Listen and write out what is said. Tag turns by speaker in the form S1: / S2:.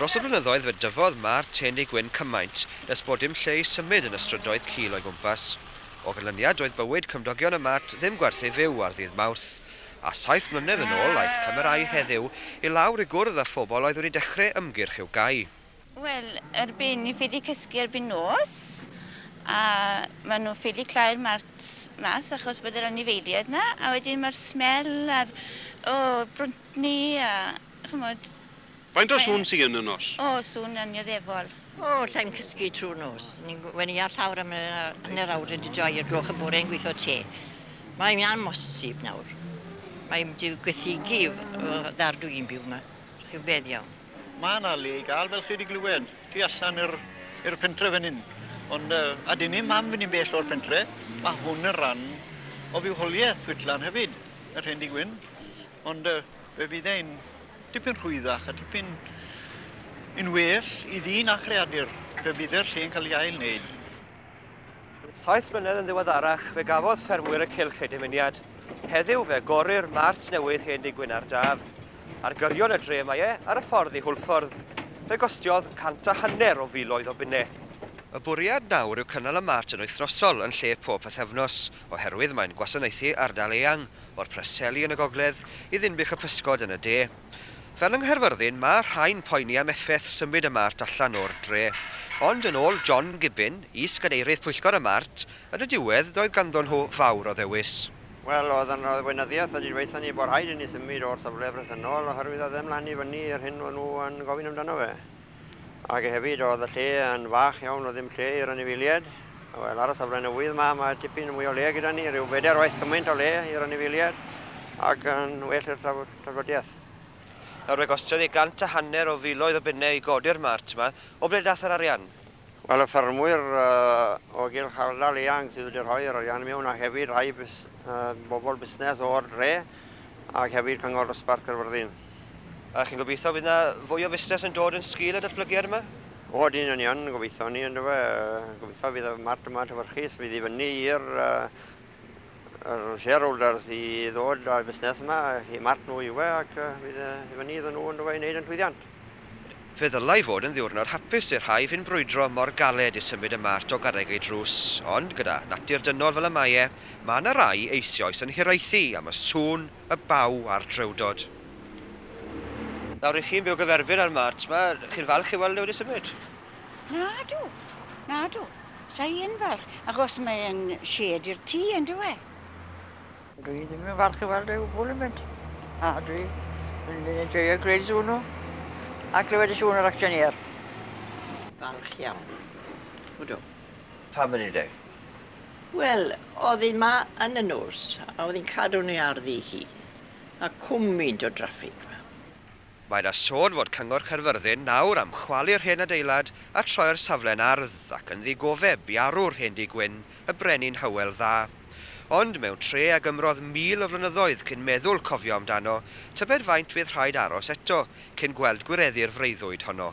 S1: Dros y blynyddoedd fe dyfodd Ma'r Tenig Gwyn cymaint nes bod dim lle i symud yn y strydoedd cul o'i gwmpas. O ganlyniad doedd bywyd cymdogion y Mart ddim gwerth ei fyw ar ddydd Mawrth. A saith mlynedd yn ôl aeth camerâu Heddiw i lawr i gwrdd â phobl oedd wedi dechre ymgyrch i'w gau. Wel, erbyn ni ffili cysgu erbyn nos, a maen nhw'n ffili clau'r mart mas achos bod yr anifeiliaid yna, a wedyn mae'r smell a'r o, brwntni a chymod. Faint o sŵn sy yn y nos? O, sŵn annioddefol. O, alla i'm cysgu trwy'r nos. Ni'n gwenu ar llawr am y hanner awr wedi joio i'r gloch y bore yn gweithio te. Mae'n amhosib nawr. Mae'n diwgythygu y ddar dwi'n byw yma. Rhyfedd iawn. Mae 'na le i gael, fel chi 'di glywed, tu allan i'r i'r pentre fan hyn. Ond yy, a dyn ni'm am fynd i'n bell o'r pentre. Mae hwn yn ran o fywoliaeth Whitlan hefyd, yr hen dŷ gwyn. Ond yy, fe fydd e'n dipyn rhwyddach a tipyn yn well i ddyn a chreadur pe bydd yr lle'n cael ei ail-wneud. Saith mlynedd yn ddiweddarach, fe gafodd ffermwyr y cylch eu dymuniad. Heddiw, fe agorir mart newydd hen dŷ Gwynardd Daf. Ar gyrion y dre mae e, ar y ffordd i Hwlffordd. Fe gostiodd cant a hanner o filoedd o bunnau. Y bwriad nawr yw cynnal y mart yn wythnosol yn lle pob pythefnos, oherwydd mae'n gwasanaethu ardal eang, o'r Preseli yn y gogledd i Ddinbych y Pysgod yn y de. Fel yng Nghaerfyrddin, ma' rhai'n poeni am effeth symud y Mart allan o'r dre. Ond yn ôl John Gibbin, is-gadeirydd pwyllgor y Mart, yn y diwedd doedd ganddon nhw fawr o ddewis. Wel, oedd yn arweinyddiaeth wedi dweutha ni bod rhaid i ni symud o'r safle bresennol oherwydd oedd e'n mlan i fyny i'r hyn o'n nhw yn gofyn amdano fe. Ac hefyd oedd y lle yn fach iawn, oedd ddim lle i'r anifeiliaid. Wel, ar y safle newydd ma, ma tipyn mwy o le gyda ni, rhyw bedair waith cymaint o le i'r anifeiliaid ac yn well i'r trafod. Traddodiaeth. Nawr fe gostiodd e gant a hanner o filoedd o bunne i godi'r mart 'ma. O ble dath yr arian? Wel, y ffermwyr o gylch ardal eang sydd wedi rhoi yr arian mewn a hefyd rhai bobl busnes o'r dre ac hefyd Cyngor Dosbarth Caerfyrddin. A chi'n gobeithio fydd 'na fwy o fusnes yn dod yn sgil y datblygiad yma? O ydyn, yn union, gobeithio ni yndyfe. Gobeithio fydd y mart yma'n llewyrchus, fydd i fyny i'r Yr shareholders i ddod â'r busnes yma, i marc nhw yw e ac fydd e i fyny iddyn nhw ynddo fe i wneud yn llwyddiant. Fe ddylai fod yn ddiwrnod hapus i'r rhai fu'n brwydro mor galed i symud y Mart o garreg ei drws, ond gyda natur dynol fel y mae e, mae yna rai eisioes yn hiraethu am y sŵn, y baw a'r drewdod. Nawr, ry'ch chi'n byw gyferbyn â'r Mart 'ma, chi'n falch ei weld e wedi symud? Nadw, nadw. Sa i yn falch, achos mae e'n sied i'r tŷ, yn dyw e? Dwi ddim yn falch i weld e o gwbl yn mynd. A dwi yn enjoyo gwneud sŵn a clywed y sŵn o'r acsiynïer. Falch iawn. Ydw. Pam yn edeg? Wel, oedd hi 'ma yn y nos, a oedd hi'n cadw ni ar ddu hi. A cwm mynt o draffig 'ma. Mae 'na sôn fod Cyngor Caerfyrddin nawr am chwalu'r hen adeilad a troi'r safle'n ardd ac yn ddigofeb i arwr hen dŷ gwyn, y Brenin Hywel Dda. Ond mewn tre ag ymrodd mil o flynyddoedd cyn meddwl cofio amdano, tybed faint fydd rhaid aros eto cyn gweld gwireddu'r freuddwyd honno?